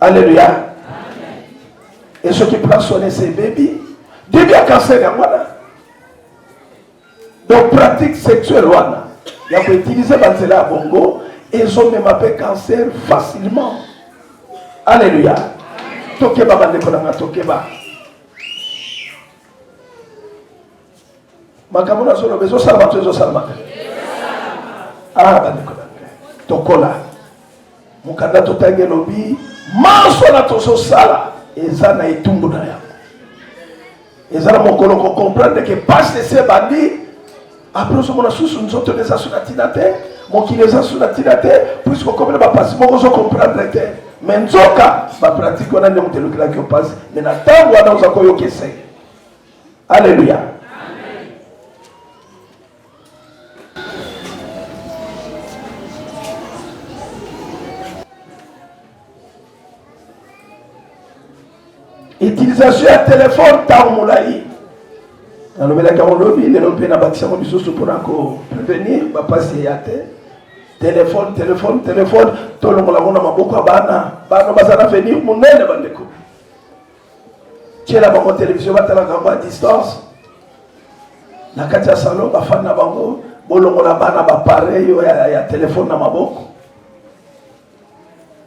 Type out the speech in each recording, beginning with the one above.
Alléluia. Et ceux qui prennent soin de ces bébés, Dieu bien cancer ya mwana. Donc pratique sexuelle wana ya ko utiliser ba nzela ya bongo ezomema mpe cancer facilement. Alléluia. Tokeba bandeko na nga tokeba. makambo nazoloba ezosalama to ezosalama te ah bandeko na ngai tokola mokanda totangi elobi manso na tozosala eza na etumbu na yango eza na mokolo kocomprendre ke pasi esi ebandi apres ozomona susu nzoto na eza so na ntina te mokili eza so na ntina te puiske okomi na bapasi moko ozocomprendre te me nzoka bapratike wana nde moto elukelaki yo mpasi me na ntango wana oza koyoka esenge Aleluya. utilisation ya telefone ntango molai nalobelaki yango lobi lelo mpe nabakisyango lisusu mpona koprevenir bapasi ya te telefone telefone telefone tolongola yango na maboko ya bana bana baza na venir monene bandeko tiela bango televizio batalaka yango a distance na kati ya salon bafani na bango bolongola bana bapareil oyo ya, ya telefone na maboko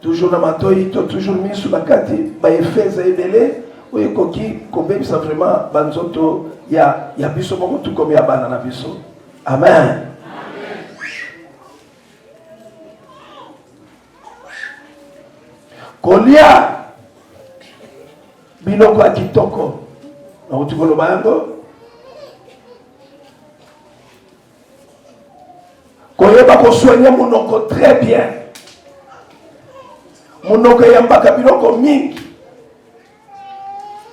toujours na matoi to toujours misu na kati baefe eza ebele oyo ekoki kobebisa vraiment banzoto ya, ya biso moko tukomi ya bana na biso amen, amen. kolia biloko ya kitoko nakuti koloba yango koyeba kosoigne monoko très bien monoko eyambaka biloko mingi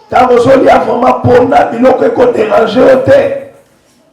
ntango ozolia vraimen mpona biloko ekoderange yo te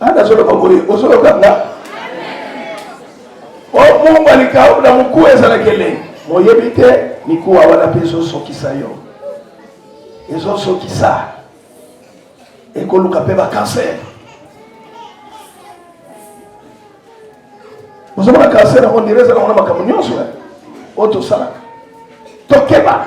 Ana solo boye osolo kanga. O oh, Mungu alikaula mkuu ezalaki elengi. Moyebi te mikuwa wana mpe ezosokisa yo, ezosokisa ekoluka mpe bakanser. Ozomona kanser yango ndire ezalaka wana makambo nyonso oyo tosalaka, tokeba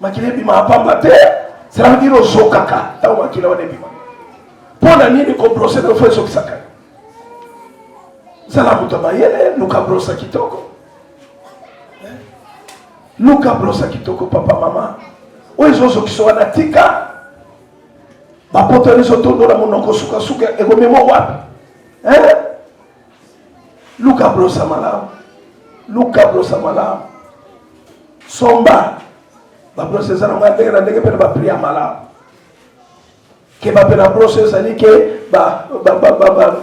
makila ebima pamba te cela veut dire ozokaka ntango makila wana ebima mpo na nini kobrose nofo ezokisaka zala moto ya mayele luka brosa kitoko eh? luka brosa kitoko papa mama oyo ezozokisa wana tika bapoto wana ezotondola monoko sukasuka ekomema wapi eh? luka brosa malamu luka brosa malamu somba babrose eza nango ya ndenge na ndenge mpe na bapri ya malamu keba mpe na brose ezali ke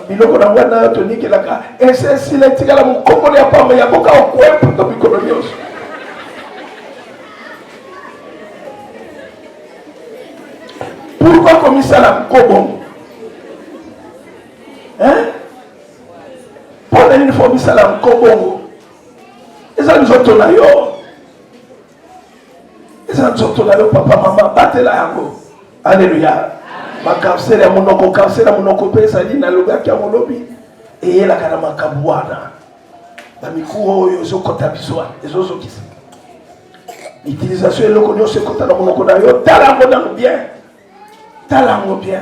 biloko nango nayo tonikelaka ese esila etikala mokongoli ya pamba ya boka okwepo to mikolo nyonso pourkoi komisala nkobongo hein mpo na nini fo misala nko bongo eza nzoto na yo eza nzoto na yo papa mama batela yango aleluya bakansele ya monoko kansele ya monoko mpe ezali nalobaki yango lobi eyelaka na makambo wana bamikuwa oyo ezokɔta biso wana ezozokisa utilisation eloko nyonso ekota na monoko na yo tala yango nano bien tala yango bien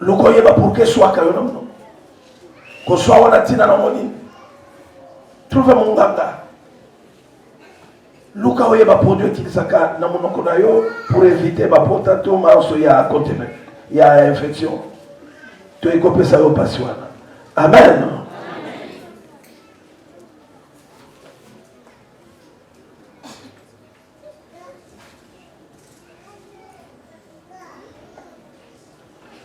luka oyeba pourke swaka yo na monoko koswa wana ntina na monini trouve monganga luka oyeba produit otilisaka na monoko na yo pour éviter bapota to manso ya continue ya infection to ekopesa yo mpasi wana amen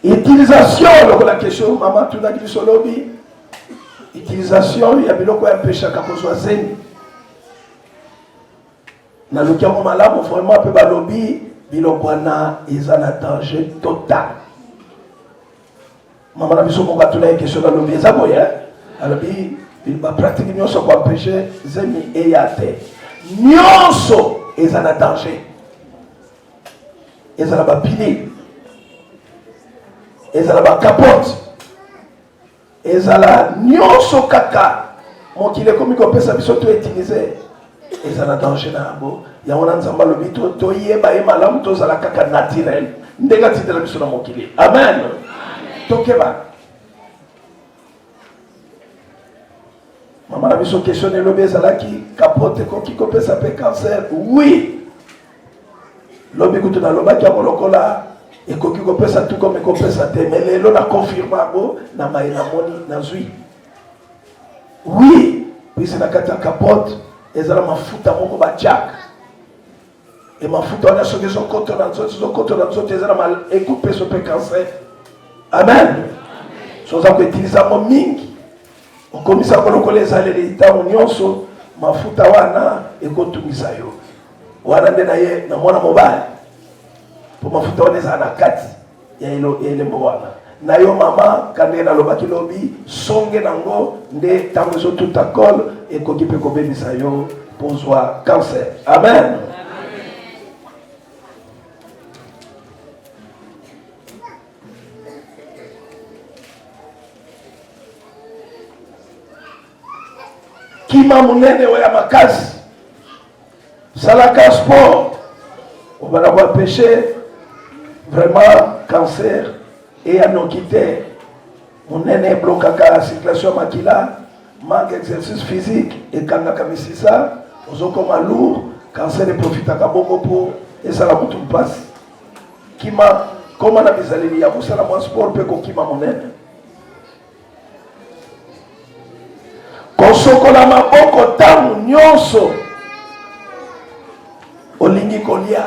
utilisation lokola question mama tunaki biso lobi utilisation ya biloko ya mpeshaka kozwa zemi naluki yango malamu vraiment mpe balobi biloko wana eza na danger total Mama na biso moko atunaki question nalobi eza boye eh? alobi bapratike nyonso koampeshe zemi eya te nyonso eza na danger eza na bapine eza na bakapote ezala nyonso kaka mokili ekomi kopesa biso to utilize eza na danger na yango yango wana nzambe alobi toyeba ye malamu tozala kaka naturel ndenge atindela biso na mokili amen tokeba mama na biso question na elobi ezalaki kapote ekoki kopesa mpe cancer oui lobi kutu nalobaki yango lokola ekoki kopesa tu comme ekopesa te me lelo na confirme yango na mai namoni nazwi Oui, pesa na kati ya capote ezala mafuta moko batiaka e mafuta wana soki ezokota na nzoto ezokota na nzoto eza na ekopeso mpe cancer amen so oza koutilize yango mingi okomisa yango lokola ezaleli ntango nyonso mafuta wana ekotungisa yo wana nde na ye na mwana mobali mpo mafuta wana ezala na kati ya elembo wana na yo mama kande nalobaki lobi songe nango nde ntango ezotuta cole ekoki mpe kobebisa yo pozwa cancer amen kima monene oyo ya makasi salaka sport obanda koapeche vraiment cancer eya noki te monene eblokaka circulation ya makila manque exercice physique ekangaka misisa ozokoma lourd cancer eprofitaka bongo mpo esala kutu mpasi kima koma na bizaleli ya kosala mwa sport mpe kokima monene kosokola maboko ntango nyonso olingi kolia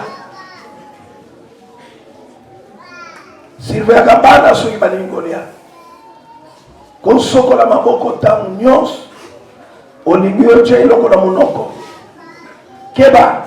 sirveyaka bana soki balingi kolia kosokola maboko ntango nyonso olingi otya eloko na monoko keba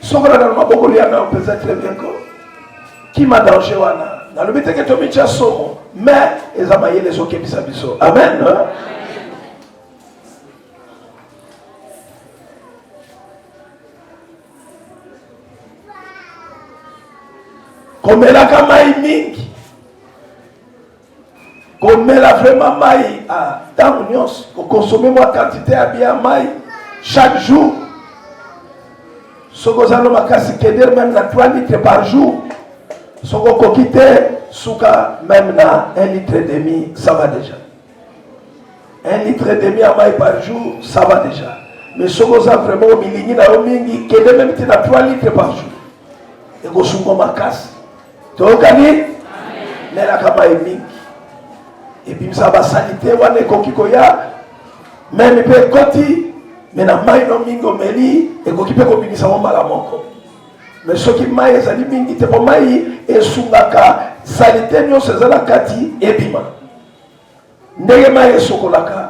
Soki olanda na maboko lia na mpenza très bien ko kima danger wana nalobi teke tomitya somo mais eza mayele ezokebisa biso amen, amen. komelaka mai mingi komela vraiment mai ah, ntango ah, nyonso kokonsome mwa quantité ya bia mai chaque jour soki oza no makasi keder meme na 3 litre par jour soki okoki te suka meme na 1 litre et demi ça va déjà 1 litre et demi ya mai par jour ça va déjà mais soki oza vraiment omilingi na yo mingi kende meme te na 3 litre par jour ekosungo makasi toyokani melaka mai mingi ebimisa basalite wana ekoki koya meme mpe ekoti me na mai no mingi omeli ekoki mpe kobimisa mo mbala moko me soki mai ezali mingi te mpo mai esungaka salite nyonso eza na kati ebima Ndenge mai esokolaka,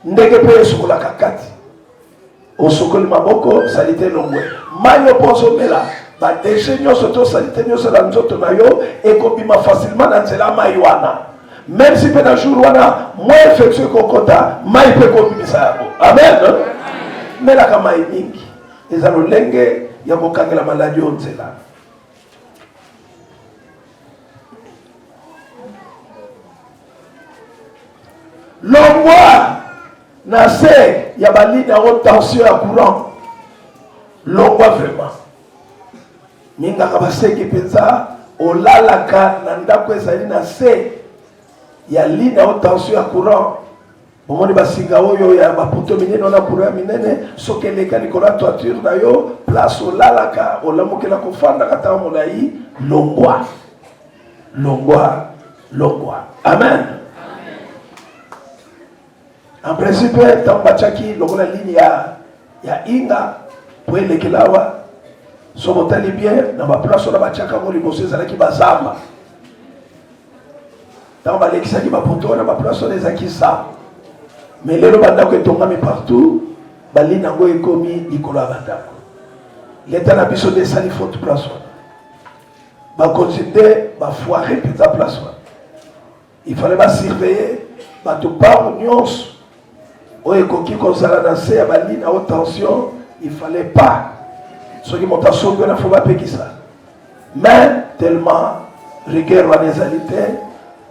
ndenge mpe esokolaka kati. Osokoli maboko, salite elongwe. Mai yo mpo ozomela, badeshe nyonso to salite nyonso na nzoto na yo ekobima facilement na nzela mai wana. Meme si mpe na jour wana mwa infection ekokota, mai mpe ekobimisa yango. Amen. Melaka mai mingi, eza lolenge ya kokangela maladi oyo nzela. longwa na se ya balini yango tension ya courant longwa vraiment mingaka baseki mpenza olalaka na ndako ezali na se ya lini yango tension ya courant omoni basinga oyo ya baputo minene wana kura ya minene soki eleka likolo ya toiture na yo place olalaka olamukela kofandaka ntango molai longwa longwa longwa amen en principe ntango batiaki lokola ligne ya ya inga mpo elekela awa so botali bien na baplace wana batiaka yango liboso ezalaki bazamba ntango balekisaki bapoto wana baplace wana eza kisa me lelo bandako etongami partout balini yango ekomi likolo ya bandako leta na biso nde esali faute place wana bakonzi nde bafoire mpenza place wana ifale basurveille bato bango nyonso oyo ekoki kozala na se ya bali na haute tension il fallait pas soki moto asombi wana fo bapekisa mais tellement rigueur wana ezali te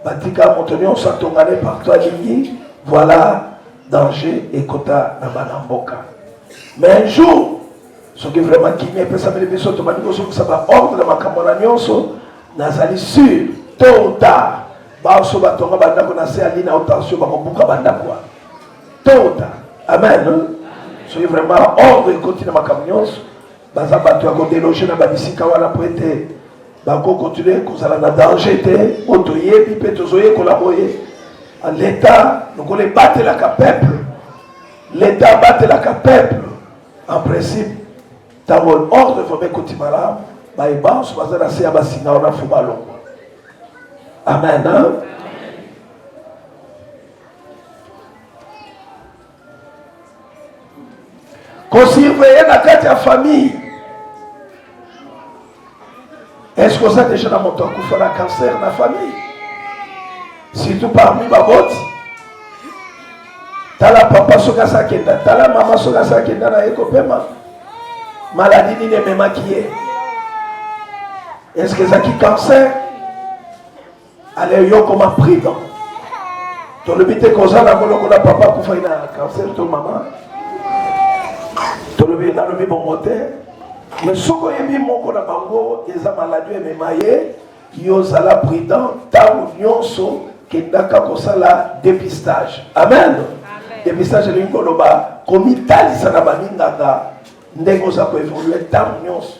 batika moto nyonso atongane partout alingi voilà danger ekota na bana mboka mais un jour soki vraiment kimia epesameli biso tobandi kozongisa baordre na makambo na nyonso nazali sur tôt ou tard Baoso batonga bandako na se ya lina o tension bakobuka bandako wana tota amen soki vraiment ordre ekoti na makambo nyonso baza bato ya kodeloge na babisika wana mpo ete bakokontinue kozala na danger te mpo toyebi mpe tozoyekola boye leta lokola ebatelaka peuple leta abatelaka peuple en principe ntango ordre vraimen ekoti malamu baye banso baza na se ya basinga wana fo balongwa Amen. Hein? kosurveye na kati ya famille eske oza deja na moto akufa na cancer na famille surtout parmi baboti tala papa soki asakenda tala mama soki asakenda na ye kopema maladi nini ememaki ye Est-ce que ezaki cancer? Allez yo koma prudent. Tolobi te koza na moloko na papa kufai na cancer to mama. Tolobi nalobi bongo te. Mais soki oyebi moko na bango eza maladi emema ye yo zala prudent ntango nyonso kendaka kosala depistage amen, amen. depistage elingi koloba komitalisa na baminganga ndenge oza koevolue ntango nyonso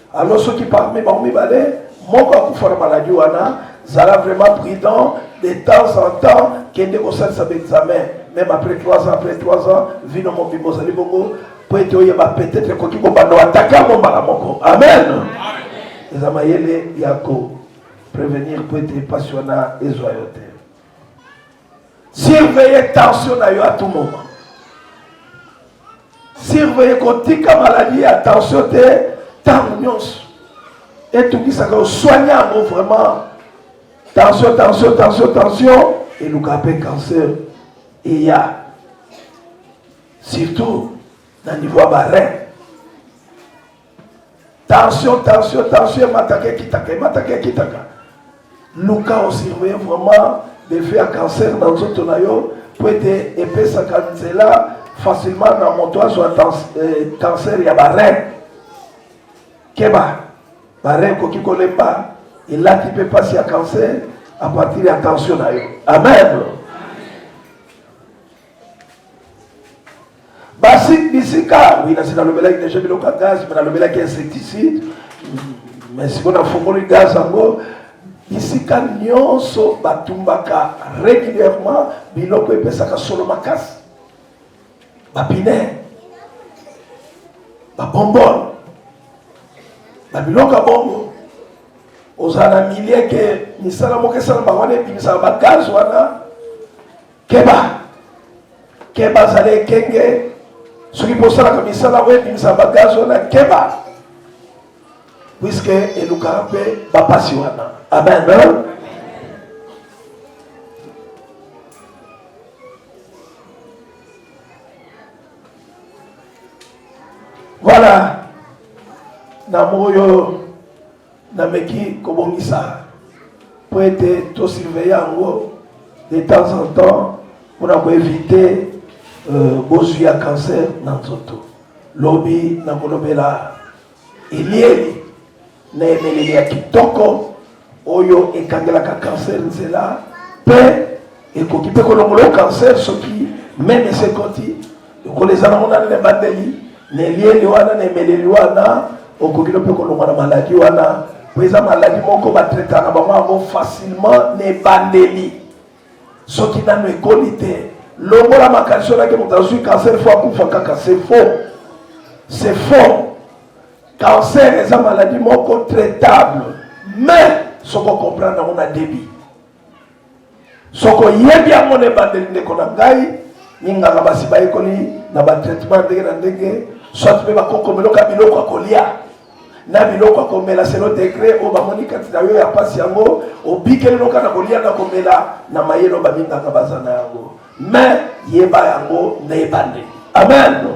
Alors soki parmi bango mibale moko akufa na maladie wana, zala vraiment prudent de temps en temps, kende kosalisa baexamen même après 3 ans après 3 ans, vino mobimba ozali bongo mpo ete oyeba peut-être ekoki kobanda atake yango mbala moko. Amen, eza mayele ya ko prevenir mpo ete mpasi wana ezwa yo te. Surveiller tension na yo à tout moment. Surveiller kotika maladie ya tension te ntango nyonso etungisaka oswani yango vraiment tension tension tension tension eluka mpe cancer eya surtout na niveau ya barein Tension, tension, tension, emataka ekitaka, emataka ekitaka. Luka osurveille vraiment defi ya cancer na nzoto na yo mpo ete epesaka nzela facilement na moto azwa eh, cancer ya barein. Keba, barein ekoki kolemba, elati mpe mpasi ya cancer à partir ya tension na yo. Amen. basi bisika oui nasi nalobelaki deja biloko ya gaz me nalobelaki insecticide me sikoyo nafungoli gaz yango bisika nyonso batumbaka régulièrement biloko epesaka solo makasi bapine babombone na biloko ya bongo ozala na milie ke misala moko esalama wana ebimisaka bagaze wana Keba, keba, zala ekenge soki bosalaka misala oyo ebimisa bagaz wana, keba puiske elukaka mpe bapasi wana. Amen. Voilà, na moyo Nameki kobongisa mpo ete tosurveille yango de temps en temps mpona koevite euh, bozwi ya cancer na nzoto lobi nakolobela elieli na emeleli ya kitoko oyo ekangelaka cancer nzela mpe ekoki mpe kolongolo cancer soki meme esekoti lokola eza nango nani na ebandeli na elieli wana na emeleli wana okoki no mpe kolongwa na maladi wana mpo eza maladi moko batraitaka na bango yango facilement na ebandeli soki nano ekoli te longola makanisi onaki moto azwi cancer fo akufa kaka se faux se faux cancer eza maladi moko traitable mais soko comprendre yango na débit soki oyebi yango na ebandeli ndeko na ngai minganga basi bayekoli na batraitement ndenge na ndenge soit mpe bakokomeloka biloko ya kolia na biloko ya komela selo degre oyo bamoni kati na yo ya mpasi yango obikeli noka na kolia na komela na mayelo baminganga baza na yango Mais yeba yango na ebandeli. Amen.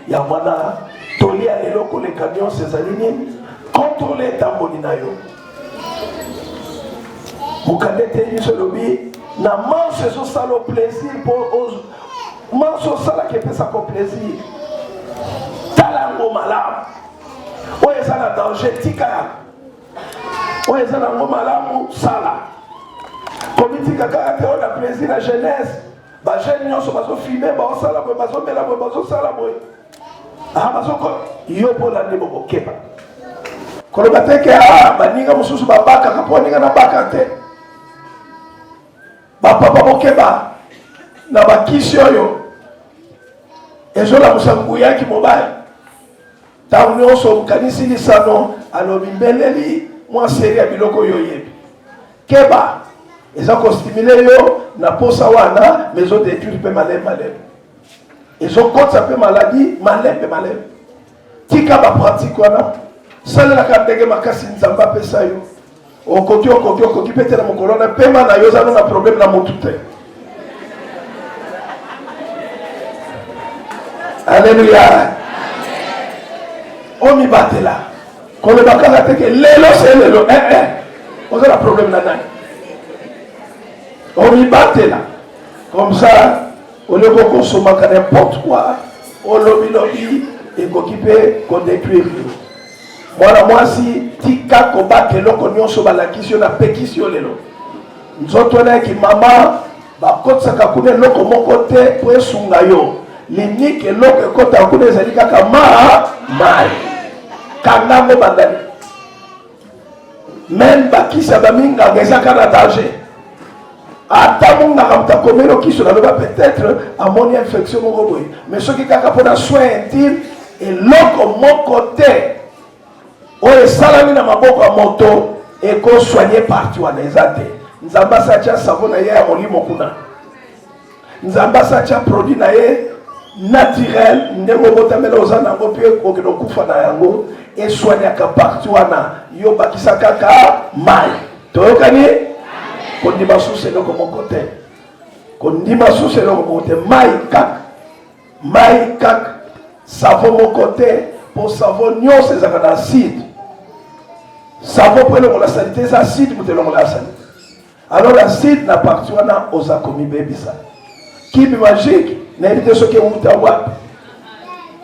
Yango wana toli ya lelo koleka nyonso ezali nini? Kontrole etamboli na yo. Mokanda etei biso elobi na manso ezosala plaisir mpo manso osalaka epesaka plaisir. Tala yango malamu. Oyo eza na danger tika yango. oyo eza nango malamu sala komitika kaka te oyo na plaisir na jeunesse bajeune nyonso bazofime baosala boye bazomela boye bazosala boye ah, bazoko yo mpo olandi bokokeba koloba te ke ah, baninga mosusu babakaka mpo ninga nabaka te bapapa bokeba na bakisi oyo ezolamusa nguya ya kimobali Ntango nyonso okanisi lisano, alobi mbeleli mwa seri ya biloko oyo oyebi. Keba, eza kostimile yo na posa wana, ma ezodetruire mpe malembe malembe, ezokotisa mpe maladi malembe malembe. Tika bapratike wana, salelaka ndenge makasi Nzambe apesa yo. Okoki okoki okoki pete na mokolo na pema na yo oza na problème na mutu te. Alléluia. Omibatela. Koloba kaka te ke lelo se lelo eh eh. Oza na problème na nani? Omibatela. Comme ça olie kokosomaka n'importe quoi olobi lobi ekoki mpe kodetruire yo Mwana mwasi, tika kobaka eloko nyonso balakisi yo, napekisi yo lelo. Nzoto wana ya kimama bakotisaka kuna eloko moko te mpo esunga yo. Liniki eloko ekota kuna ezali kaka ma mai kanga yango bandani meme bakisa baminganga ezaka na danger ata monganga moto akomeli okiso naloba peut-être amoni infection moko boye mais soki kaka mpona soin intime eloko moko te oyo esalami na maboko ya moto ekosoigne parti wana eza te nzambe asatya savo na ye ya molimo kuna nzambe asatia produit na ye naturel ndenge obotamela oza na yango mpe okende okufa na yango eswaniaka parti wana yo bakisa kaka mai toyokani kondima susu eloko moko te kondima susu eloko moko te mai kaka mai kaka savo moko te mpo savo nyonso ezalaka na acide savo mpo elongola salite eza acide moto elongola ya salite Alors la site na parti wana oza komibebisa kibi magique nayebi te soki ewuta wapi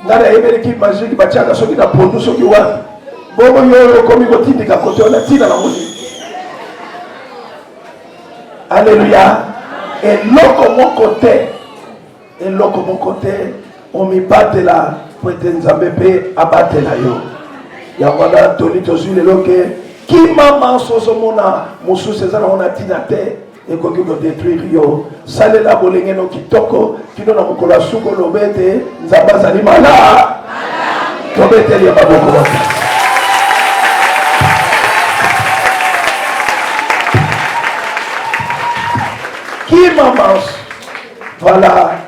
nga nayebeli kibi magique batiaka soki na pondu soki wapi bongo yoyo okomi kotindika kote wana ntina na moni aleluya eloko moko te eloko moko te omibatela po ete nzambe mpe abatela yo yango wana toli tozwi lelo ke kima manso ozomona mosusu eza nango na ntina te ekoki kodetruire yo salela bolengeno kitoko kino na mokolo ya suku oloba ete nzambe azali malaa tobeteli ya maboko baka kima manso Voilà,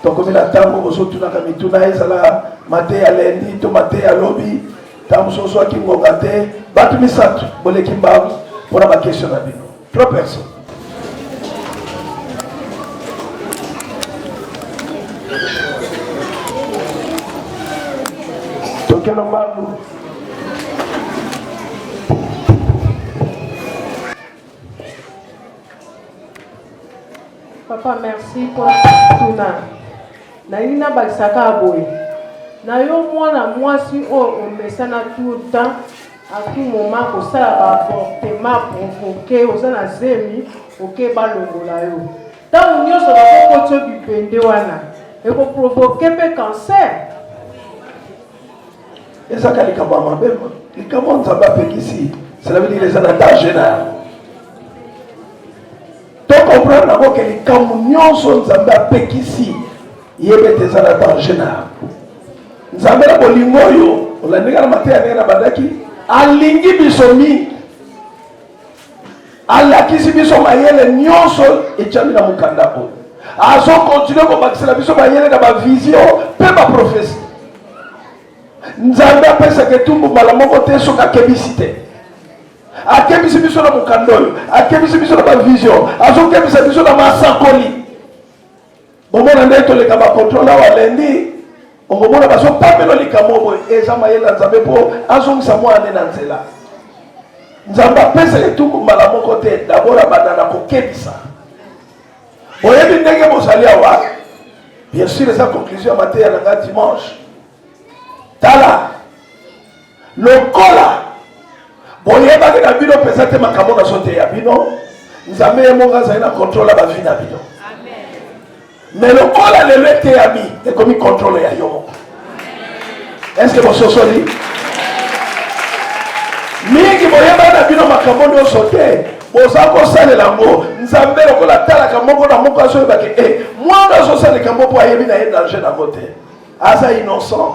tokomi na ntango ozotunaka mituna ezala mate ya lendi to mate ya lobi ntango mosusu ozwaki ngonga te bato misato boleki mbangu mpo na bakestio na bino trois personnes tokeno mbangu Papa, merci pour tuna. Nalingi nabakisa kaka boye na yo mwana mwasi oyo omesana tout le temps à tout moment kosala baavortement provoke oza na zemi oke balongola yo ntango nyonso bakokotio bipende wana ekoprovoke mpe cancer ezaka likambo ya mabe likambo ya nzambe apekisi selabidile eza na danger na yango tokomprendre yango ke likambo nyonso nzambe apekisi yebe ete eza na danger na yango nzambe na bolingo oyo olandinga na mateya ndenge na bandaki alingi biso mingi alakisi biso mayele nyonso etyami na mokanda oyo azokontinue kobakisela biso mayele na bavizio mpe baprofesi nzambe apesaka etumbu mbala moko te soki akebisi te akebisi biso na mokanda oyo akebisi biso na bavizio azokebisa biso na masakoli bomona nde toleka bacontrole awa lendi okomona bazopamela likambo boye eza mayele ya nzambe mpo azongisa mwana nde na nzela nzambe apesa etuku mbala moko te dabord abanda na kokebisa boyebi ndenge bozali awa bien sûr eza conclusion ya mateya na ngai dimanche tala lokola boyebaki na bino mpenza te makambo nazoteya bino nzambe ye moko azali na kontrole ya bavi na bino me lokola lelo eteyami ekomi kontrole ya yo moko eske bososoli mingi boyebani na bino makambo nyonso te boza kosalela yango nzambe lokola atalaka moko na moko azoyebaki e eh, mwana azosala likambo mpo ayebi na ye danger nango te aza innocent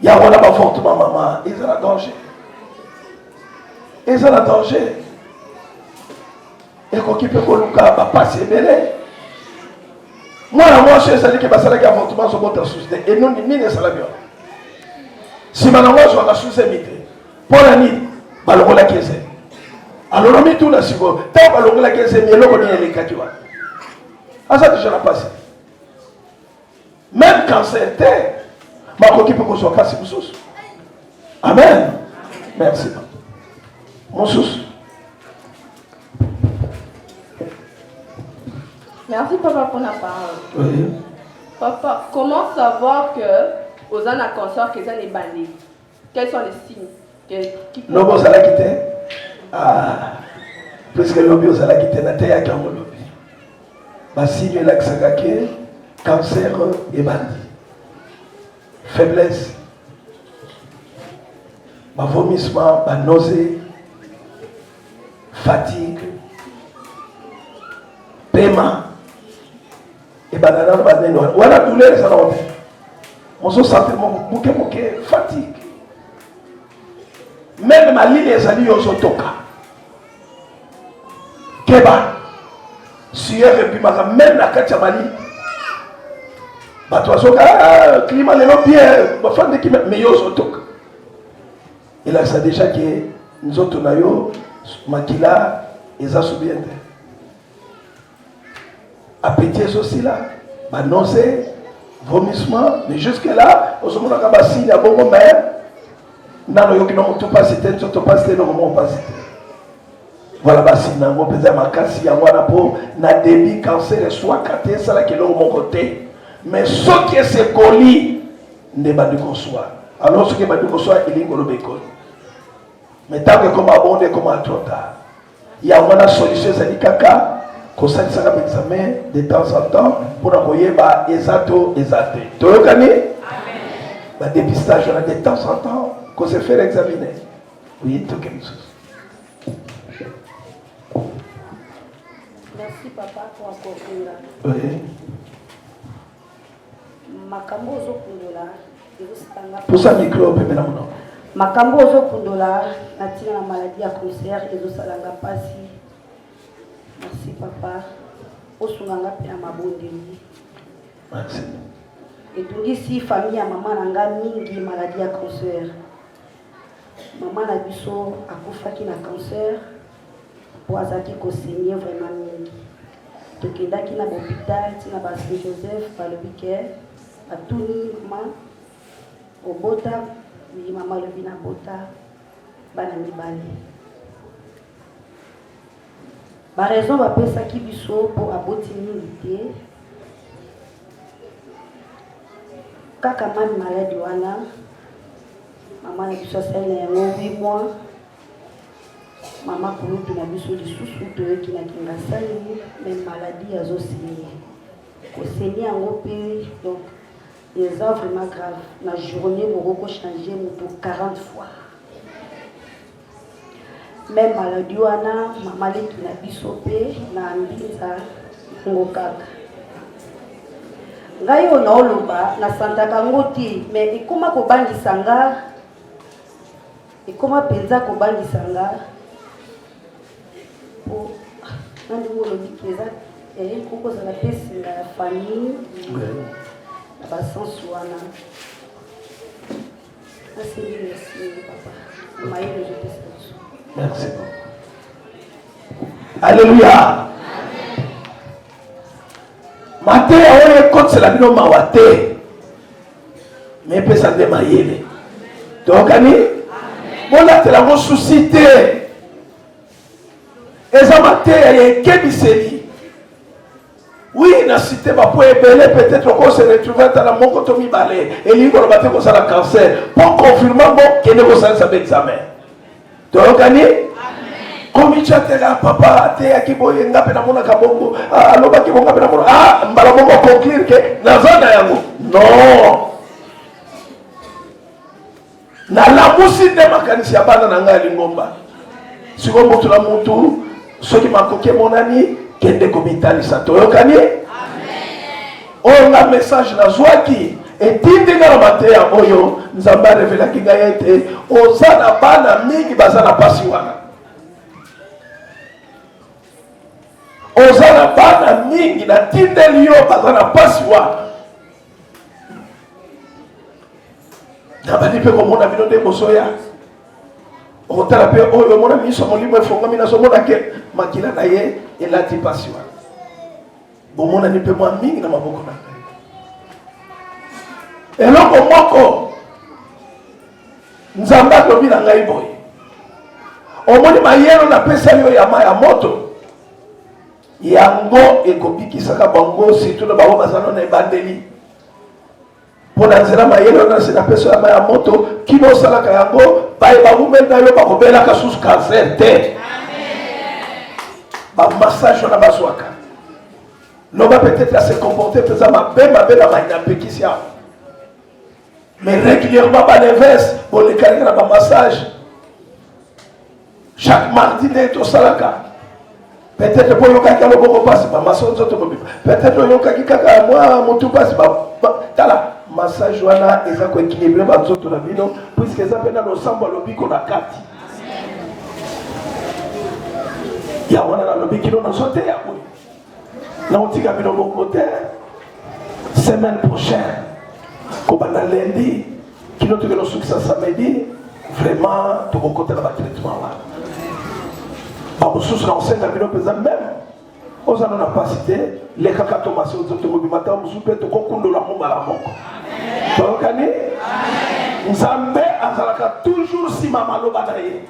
ya wana bavortement mama eza na danger eza na danger ekoki mpe koluka bapasi ebele mwana mwasi ezali ke basalaki avortement azobota susi te enoni nini esalami wana nsima nango azwaka susemi te mpo na nini balongolaki ezemi alona mituna sikoyo ntango balongolaki ezemi eloko nini elekaki wana aza deja na pasi meme cancer te bakoki mpe kozwa mpasi mosusu amen merci mosusu merci papa mpona parole oui. papa comment savoir que oza na consort que eza na ebandeli Quels sont les signes que qui peut- lobi ozalaki te Ah, puiske lobi ozalaki te nateyaki yango lobi basini elakisaka ke cancer ebandi faiblesse bavomissement banose fatigue pema ebanda na banene wana wana douleur ezala wapi ozosante moke moke fatigue meme malili ezali yo ozotoka keba sieur ebimaka meme na kati ya malili bato bazoka ah, klima lelo bien bafandeki me yo ozotoka elakisa deja ke nzoto na yo makila eza subiente Appétit ezo sila, ba nausées, vomissement, mais jusque là ozomonaka ba signe ya bongo mais nano yoki na motu pasi te nzoto pasi te noko moko pasi te voilà basi na yango mpenza makasi yango wana mpo na debi cancer eswaka te esalaki eloko moko te mais soki esekoli nde ebandi koswa alors soki ebandi koswa elingi koloba ekoli mais ntango ekoma bonde ekoma trop tard yango wana solution ezali kaka kosalisaka baexamen de temps en temps mpo na koyeba eza to eza te toyokani badepistage wana de temps en temps kose faire examine oye toke mosusu Merci papa pour accorder. Oui. makambo ozokundola ezositanga posa mikro opembe na monoko makambo ozokundola na ntina na maladi ya concert ezosalanga mpasi merci papa osunga nga mpe na mabondeli etungisi famille ya mama na nga mingi maladi ya concert Maman na biso akufaki na cancer mpo azalaki kosenye vraiment mingi. Tokendaki na bopital ti na ba Saint Joseph, balobi ke batuni mama obota, ye mama alobi nabota bana mibale. Ba raison bapesaki biso mpo aboti mingi te kaka mami maladi wana mama na biso asali na yango wi mwa mama kulutu na biso lisusu toyoki na kingasani me maladi azosini koseni yango mpe donc eza vraiment grave na journée moko kochange moto 40 fois Meme maladie wana mama leki na biso mpe na mbinza ngo kaka ngai oyo naoloba nasantaka ngo te me ekoma kobangisa nga ekoma mpenza kobangisa nga po nandingo olobi eza eye kokozala mpe singa ya famille na basense wana Merci beaucoup. Alléluia. mateya oyo ekotisela bino mawa te me epesa nde mayele toyokani bolatela yango susi te eza mateya ya ekebiseli Oui, na cité ba po ebele peut-être ko se retrouver ata na moko to mibale elingi koloba te kozala cancer mpo confirma ngo kende kosalisa ba examen toyokani komityatela papa ateyaki boye nga mpe namonaka bongo ah, alobaki bonga mpe namona ah, mbala moko conclure ke naza na yango non nalamusi nde makanisi ya bana na ngai ya lingomba sikoyo motu na motu soki makoki emonani kende komitalisa toyokani oyo nga message nazwaki etindi nga na mateya oyo nzambe arevelaki ngai ete oza na bana mingi baza na mpasi wana oza na bana mingi natindeli yo baza na mpasi wana nabandi mpe komona bino nde bozoya okotala mpe oyo omona miso molimo efongami nazomona ke makila na ye elati mpasi wana bomonani mpe mwa mingi na maboko na ngai eloko moko nzambe alobi na ngai boye omoni mayelo napesali yo ya ma ya moto yango ekobikisaka bango surtout na bango bazalo na ebandeli mpo na nzela mayele wana se napesa ya mai ya moto kino osalaka yango baye bawumeli na yo bakobelaka susu kanser te bamassage wana bazwaka loba peut-être ase comporte mpenza mabe mabe na mai napekisi yango mais régulièrement baleves bolekaleka na bamassage chaque mardi nde tosalaka peut-être mpo oyokaki alo moko mpasi bamaso nzoto mobima peut-être oyokaki kaka mwa motu mpasi tala massage wana eza koekilibre banzoto na bino puiske eza mpe na losambo ya lobiko na kati ya wana nalobi kino nazoteya boye nakotika bino bongo te semaine prochaine kobanda lundi kino tokende osukisa samedi vraiment tokokota na batraitement wana bamosusu nakosenga bino mpenza meme ozala na mpasi te lekaka tomasi tokobima ntango mosusu mpe tokokundola yango mbala moko toyokani nzambe azalaka toujours nsima maloba na ye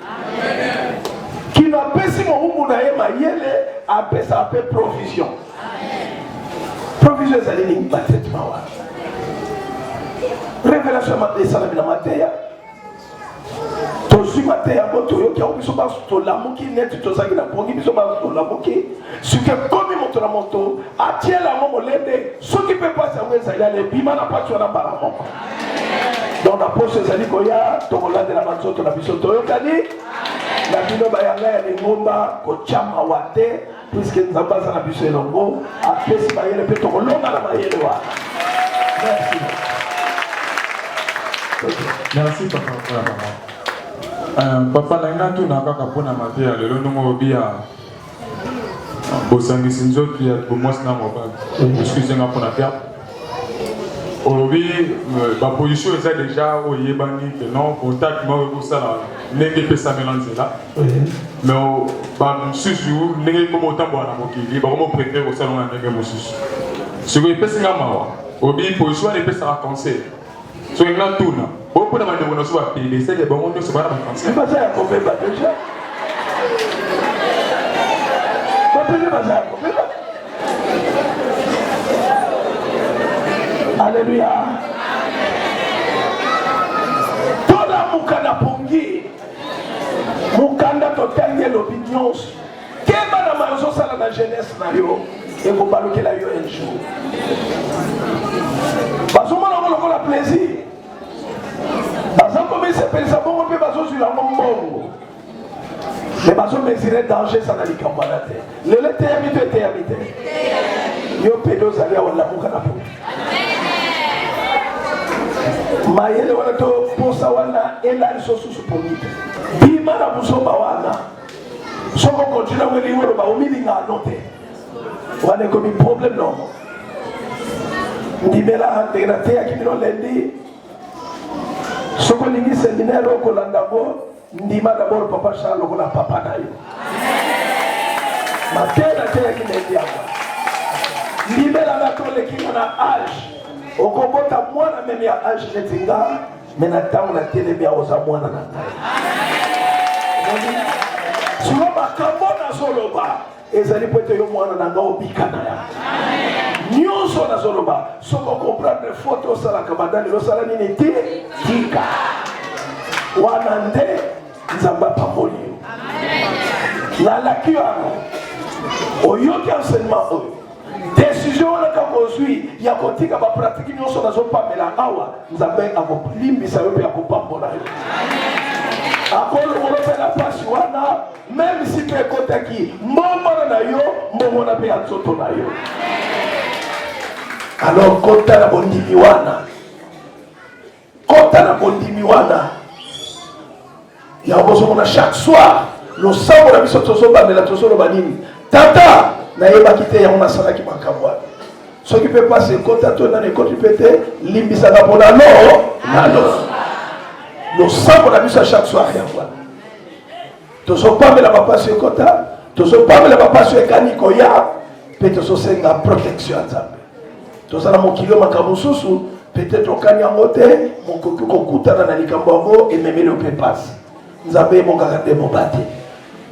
kino apesi mowumbu na ye mayele apesaka mpe provision provision ezali nini batraitement wana révélation esalami na mateya tozwi mateya yango toyoki yango biso baso tolamuki neti tozalaki na pongi biso baso tolamuki sikoyo ekomi moto na moto atiela yango molende soki mpe mpasi yango ezali ala ebima na mpasi wana mbala moko donc na poso ezali koya tokolandela banzoto na biso toyokani na bino bayanga ya lingomba kotya mawa te puiske nzambe aza na biso elongo apesi mayele mpe tokolonga na mayele wana merci merci papa mpona mama papa na ngai natuna kaka mpona mateya lelo ndongo obiya bosangisi nzoto ya bomwasi na mobali excuse nga mpona terme olobi euh, baposition eza deja oyo eyebani ke non contact moko ekosala ndenge epesamela nzela me bamosusu ndenge ekoma otambola na mokili bakoma oprefere kosalonga ndenge mosusu sikoyo epesi nga mawa obi position wana epesaka conseil soki natuna bo mpo na bandeko na biso bapele esali bango nyonso bana bafrançais baza ya kobeba deja bapele baza ya kobeba aleluya tolamuka na pongi mokanda totangi elobi nyonso Keba na mayo ozosala na jeunesse na yo ekobalukela yo un jour. Bazomona yango lokola plaisir, baza komisepelisa bongo mpe bazozwila yango mbongo me bazomesire danger eza na likambo wana te lelo eteyami to eteyami te yo pede ozali awa lamuka na po mayele wana to mposa wana elaliso susu pongi te bima na buzoba wana soko continue ngo elingi oloba omilinga no te wana ekomi problème noko ndimela ndenge nateyaki bino lendi soko olingi seminaire okolanda ngo ndima dabord papa charles lokola papa na yo mateya nateyaki lendi yango ndimela nga tolekinga na age okobota mwana meme ya age neti nga me na ntango na telemi aoza mwana na ngai silo makambo nazoloba ezali mpo ete yo mwana na ngai obika na ya nyonso nazoloba soki okomprendre fote osalaka bandani losala nini ti tika wana nde nzambe apamboli yo nalaki yango oyoki enseignement oyo Desizio wana ntango ozwi ya kotika bapratiki nyonso nazopamela awa, Nzambe akolimbisa yo mpe akopambola yo akolongola mpe na mpasi wana meme si mpe ekotaki mbongwana na yo mbongwana mpe ya nzoto na yo alors kota na bondimi wana kota na bondimi wana ya bozomona chaque soir losambo na biso tozobandela tozoloba nini tata nayebaki te yango nasalaki makambo wana soki mpe mpasi ekota to nani ekoti mpe te limbisaka mpo na lo nalo losambo na biso ya chaque soir yango wana tozopamela bapasi ekota tozopamela bapasi ekani koya mpe tozosenga protection ya nzambe toza na mokili oyo makambo mosusu peut-être okani yango te mokoki kokutana na likambo yango ememeli mpe mpasi nzambe ebongaka nde mobateli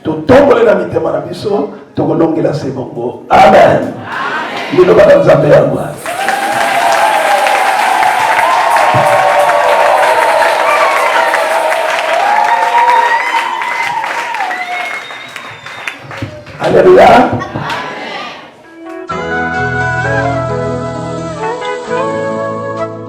totombole na mitema na biso tokolongela se bongo amen liloba na nzambe ya mwa aleluya